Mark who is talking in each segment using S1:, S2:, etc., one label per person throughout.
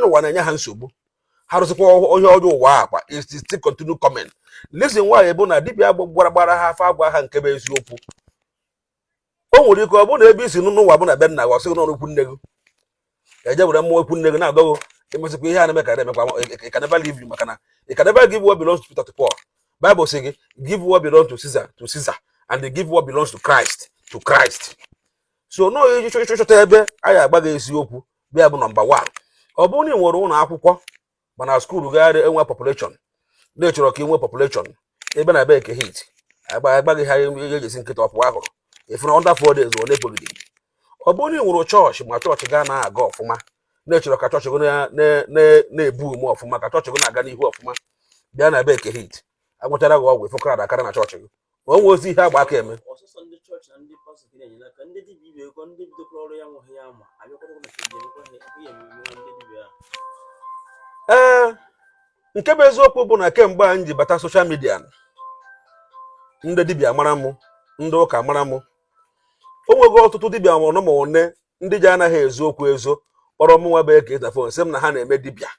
S1: n'ụwa na-enye ha nsogbu ha rụsịkwa onye ọjọọ ụwa akwa is still continue comment reason why bụ na dibia gbara ha afa agwa ha nke bụ eziokwu o nwere ike ọ bụrụ na ebe i si nọọ ụwa bụ na be nna gị ọ sị gị na ọ bụ ikwu nne gị e je were mmụọ ikwu nne gị na-agọ gị emesịkwa ihe a na-eme ka na-emekwa it can never leave you maka na ị can never give what belongs to Peter to Paul Bible sị gị give what belongs to Caesar to Caesar and they give what belongs to Christ to Christ so na ọ ịchọta ebe a ya-agwa gị eziokwu bịa bụ number one ọ bụrụ na ị nwere ụlọ akwụkwọ mana skuulu gị anaghị enwe population na ị chọrọ ka i nwe population ebe na ebe eke hit agwa gị ihe ejesi nkịta ọpụ ahụrụ ị fụ na under four days ọ na-ebogide ọ bụrụ na ị nwere chọọchị ma chọọchị gị anaghị aga ọfụma na ị chọrọ ka chọọchị gị na-eboom ọfụma ka chọọchị gị na-aga n'ihu ọfụma bịa na ebe eke hit a gwọchara gị ọgwụ ị fụ ka ọra dakara na chọọchị gị ma o nwerọzi ihe a gba aka eme ee nke bụ eziokwu bụ na kemgbe a m ji bata social media ndị dibịa mara mụ ndị ụka mara mụ o nwego ọtụtụ dibịa ọnụ ma one ndị ji anaghị ezo okwu ezo kpọrọ mụnwa bụ eke hit na phone sị m na ha na-eme dibịa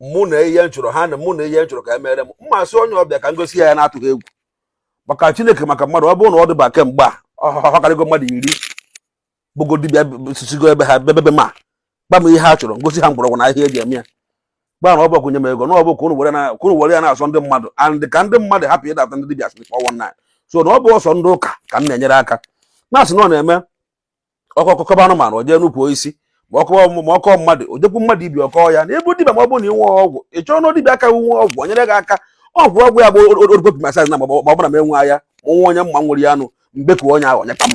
S1: mụ na ihe m chọrọ ha na mụ na ihe m chọrọ ka emere m m asị onye ahụ bịa ka m gosi ya na-atụghị egwu maka chineke maka mmadụ ọ bụrụ na ọ dịba kemgbe a ọ karịgo mmadụ iri bụgo dibịa sisigo ebe ha bi bịa be m agwa m ihe ha chọrọ m gosi ha mgbọrọgwụ na ahịhịa eji eme ya gwa ha na ọ bụrọ kwụnye m ego na ọbụ ka unu were ya na-azọ ndị mmadụ and ka ndị mmadụ hapụ ịdata ndị dibịa sịrị 419 so na ọ bụrọ sọ ndị ụka ka m na-enyere aka na a sị na ọ na-eme ọkọ kọba anụmanụ o jee n'ukwu osisi ma ọ kọ mmadụ o jekwu mmadụ ibe ọ kọ ya na ị bụ dibịa ma ọ bụ na inwe ọgwụ ị chọọ na dibịa ka nwe ọgwụ o nyere gị aka ọgwụ ọgwụ ya bụ orgopi masaji na ma ọ bụrụ na m enwe ya nwa onye m ma nwere ya anụ mbe ka onye ahụ nyekwa m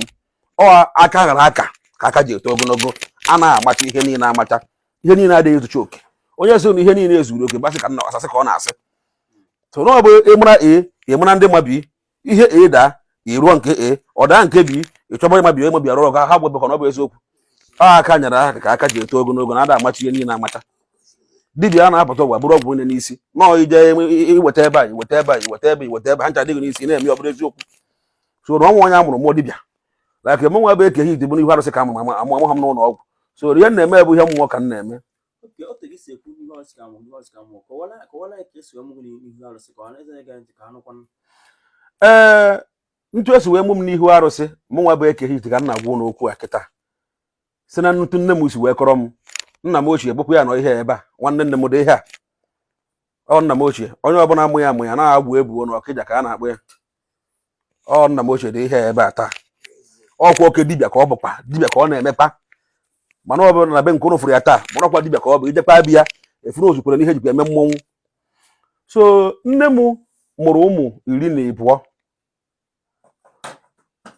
S1: aka ghara aka ka aka ji eto ogologo a na-amacha ihe niile amacha ihe niile adịghị ezucha oke onye sị na ihe niile zuru oke ọ bụ asị ka ọ na-asị asị ka ọ na-asị so na ọ bụ ịmara e ịmara ndị ma bi ihe e daa iruo nke e ọ daa nke bi ịchọba ịmabi ịmabi arụ ọrụ ha gwebekọ na ọ bụ eziokwu aka nyere aka ka aka ji eto ogologo na ada amacha ihe niile amacha dibia a na-apụta ụwa buru ọgwụ n'isi na ọ ije iweta ebe a iweta ebe a iweta ebe iweta ebe ha ncha adị gị n'isi na-eme ọ bụrụ eziokwu so na o nwe onye a mụrụ mụọ dibia like mụ nwa bụ eke hit ọ bụ n'ihu arụsị ka a mụ m amụ amụha m n'ụlọ ọgwụ so ihe m na-eme bụ ihe mmụọ ka m na-eme okay otu gị si ekwu n'ihu arụsị ka mụ n'ihu arụsị ka mụ kọwara kọwara ya ka esi wee mụ gị n'ihu arụsị ka ọha na eze gee ntị ka a nụkwa ee ntu esi wee mụ m n'ihu arụsị mụ nwa bụ eke hit ka m na-agwa ụnụ okwu a kịta si na ntu nne m si wee kọrọ m nna m ochie bụkwa ya nọ ihe ebe a nwanne nne m dị ihe a ọ nna m ochie onye ọbụla amụ ya amụ ya na agwụ ebuo na ọkịja ka a na-akpọ ya ọ nna m ochie dị ihe ebe a taa ọkwa oke dibịa ka ọ bụkwa dibịa ka ọ na-emekpa mana ọ bụrụ na be nke ụnụ fụrụ ya taa marakwa dibịa ka ọ bụ i jekwa be ya efuru ozukwere n'ihe jikwa eme mmọnwụ so nne m mụrụ ụmụ iri na ịbụọ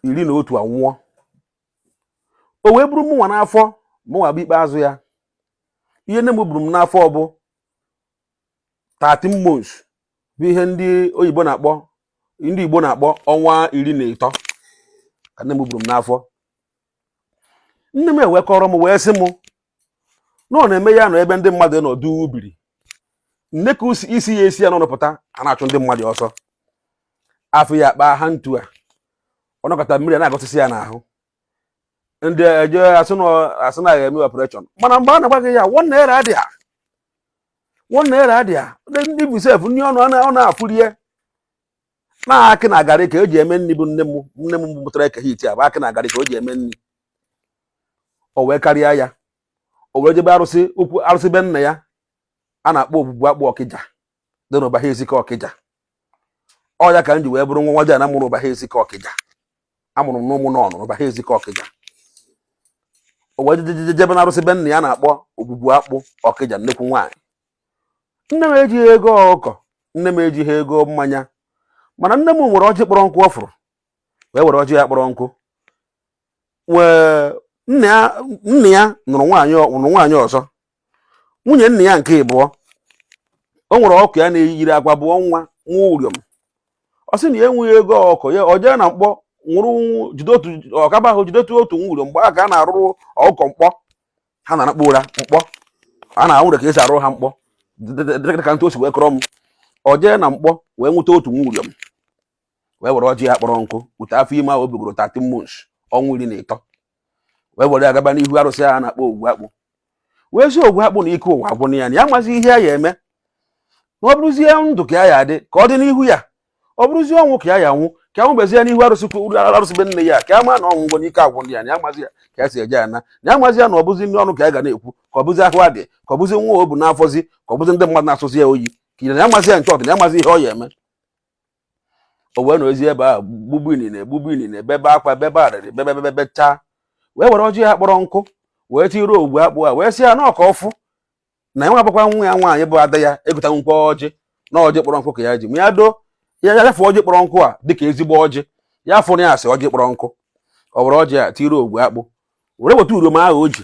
S1: iri na otu anwụọ o wee bụrụ mụnwa n'afọ mụnwa bụ ikpeazụ ya ihe nne m buru m n'afọ bụ 13 months bụ ihe ndị oyibo na-akpọ ndị Igbo na-akpọ ọnwa iri na ịtọ ka nne m buru m n'afọ nne m wee kọọrọ m wee sị m na ọ na-eme ya nọ ebe ndị mmadụ nọdụ ubiri nne ka isi ya esi ya n'ọnụ pụta a na-achụ ndị mmadụ ọsọ afọ ya akpa ha ntu a ọ nọkata mmiri a na-agụsịsị ya n'ahụ ndị eje asị na ya eme operation mana mgbe a na-agwa gị ya one naira adịa one naira adịa even sef nri ọnụ ọ na-afụ rie na akị na garị ka o ji eme nri bụ nne m nne m mụtara eke hit a bụ akị na garị ka o ji eme nri o wee karịa ya o wee jebe arụsị ukwu arụsị be nna ya a na-akpọ ogwugwu akpụ ọkịja dị n'ụbahụ ezike ọkịja ọ ya ka m ji wee bụrụ nwa nwa ji na mụrụ ụbahụ ezike ọkịja amụrụ m n'ụmụ n'ọnụ n'ụbahụ ezike ọkịja o wee jebe na arụsị be nna ya a na-akpọ ogwugwu akpụ ọkịja nnekwu nwaanyị nne m ejighị ego ọkụkọ nne m ejighị ego mmanya mana nne m nwere ọjị kpọrọ nkụ ọ fụrụ wee were ọjị ya kpọrọ nkụ wee nna ya nna ya nụrụ nwaanyị ọ- nụrụ nwaanyị ọzọ nwunye nna ya nke ịbụọ o nwere ọkụkọ ya na-eyiri akwa bụọ nwa nwa ụrịọm ọ sị na ya enweghị ego ọkụkọ ya ọ jee na mkpọ nwụrụ jide otu ọkaba ahụ jide otu otu nwa ụrịọm mgbe a ka a na-arụrụ ọkụkọ mkpọ ha na-anakpu ụra mkpọ a na-anwụrụ ka e si arụ ha mkpọ dị ka ntụ o si wee kọrọ m ọ jee na mkpọ wee nweta otu nwa ụrịọm wee were ọjị ya kpọrọ nkụ bute afọ ime ahụ o bugoro 13 months ọnwa iri na ịtọ wee were ya gaba n'ihu arụsị ahụ a na-akpọ ogwugwu akpụ wee sị ogwugwu akpụ na ike ụwa agwụna ya na ya amazi ihe ya eme na ọ bụrụzie ndụ ka ya ya adị ka ọ dị n'ihu ya ọ bụrụzie ọnwụ ka ya ya nwụ ka ọ nwụbezie n'ihu arụsị arụsị be nna ya ka a maa na ọnwụ ngwọ n'ike agwụ ndị ya na ya amazi ya ka ya si eje ana na ya amazi ya na ọ bụzi nri ọnụ ka ya ga na-ekwu ka ọ bụzi ahụ adị ka ọ bụzi nwa o bu n'afọzi ka ọ bụzi ndị mmadụ na-asọzi ya oyi ka ya amazi ya nke ọ dị na ya amazi ihe ọ ya eme o wee nọzie ebe ahụ gbugbu inine gbugbu inine bebe akwa bebe arịrị bebe bebe bebe chaa wee were ọjị ya kpọrọ nkụ wee tiiri ogwugwu akpụ a wee sị ya na ọkwa ọ fụ na ya nwa bụkwa nwa ya nwaanyị bụ ada ya egotanwu nkwa ọjị na ọjị kpọrọ nkụ ka ya ji ma ya doo ya ya fụ ọjị kpọrọ nkụ a dịka ezigbo ọjị ya fụrụ ya asị ọjị kpọrọ nkụ ọ were ọjị a tiiri ogwugwu akpụ were weta ụrịọm ahụ o ji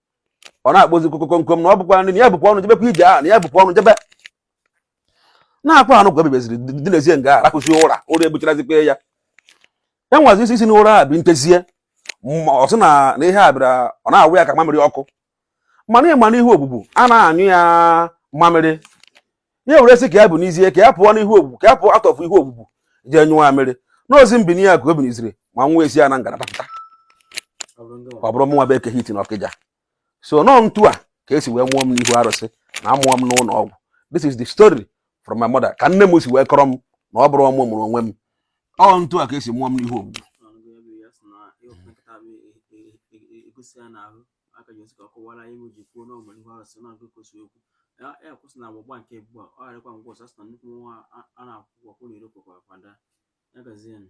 S1: ọ na-akpọzi kokokonkom na ọ bụkwa nri na ya bụkwa ọnụ jebekwa ije a na ya bụkwa ọnụ jebe na-akwa anụ kwa ebebeziri dinezie nga arahụzi ụra ụra egbucharazikwa ya ya nwazi isi isi na ụra a bụ ntezie ma ọ sị na na ihe a bịara ọ na-awụ ya ka mamịrị ọkụ mana ị ma n'ihu ogbugbu a na-anyụ ya mamịrị ya were sị ka ya binizie ka ya pụọ n'ihu ogbugbu ka ya pụọ atọfụ ihu ogbugbu jee nyụọ amịrị n'ozi mbini ya ka o biniziri ma nwa esi ya na ngalaba pụta ọ bụrụ mụnwa bụ eke hit na ọkịja so na ọ ntu a ka esi wee mụọ m n'ihu arụsị na amụọ m n'ụlọ ọgwụ this is the story from my mother ka nne m si wee kọrọ m na ọ bụrọ mụ mụrụ onwe m ọ ntu a ka esi mụọ m n'ihu ogbugbu aka ji ka
S2: ọ kọwara anyị ji kwuo na a mụrụ n'ihu arụsị na agụkọ si okwu ya kwụsị na agbagba nke ugbu a ọ gharakwa ngwa ọsọ asị na nnukwu nwa a na-akwụkwọ kwụ na iro kwekwa kwada ya gazienụ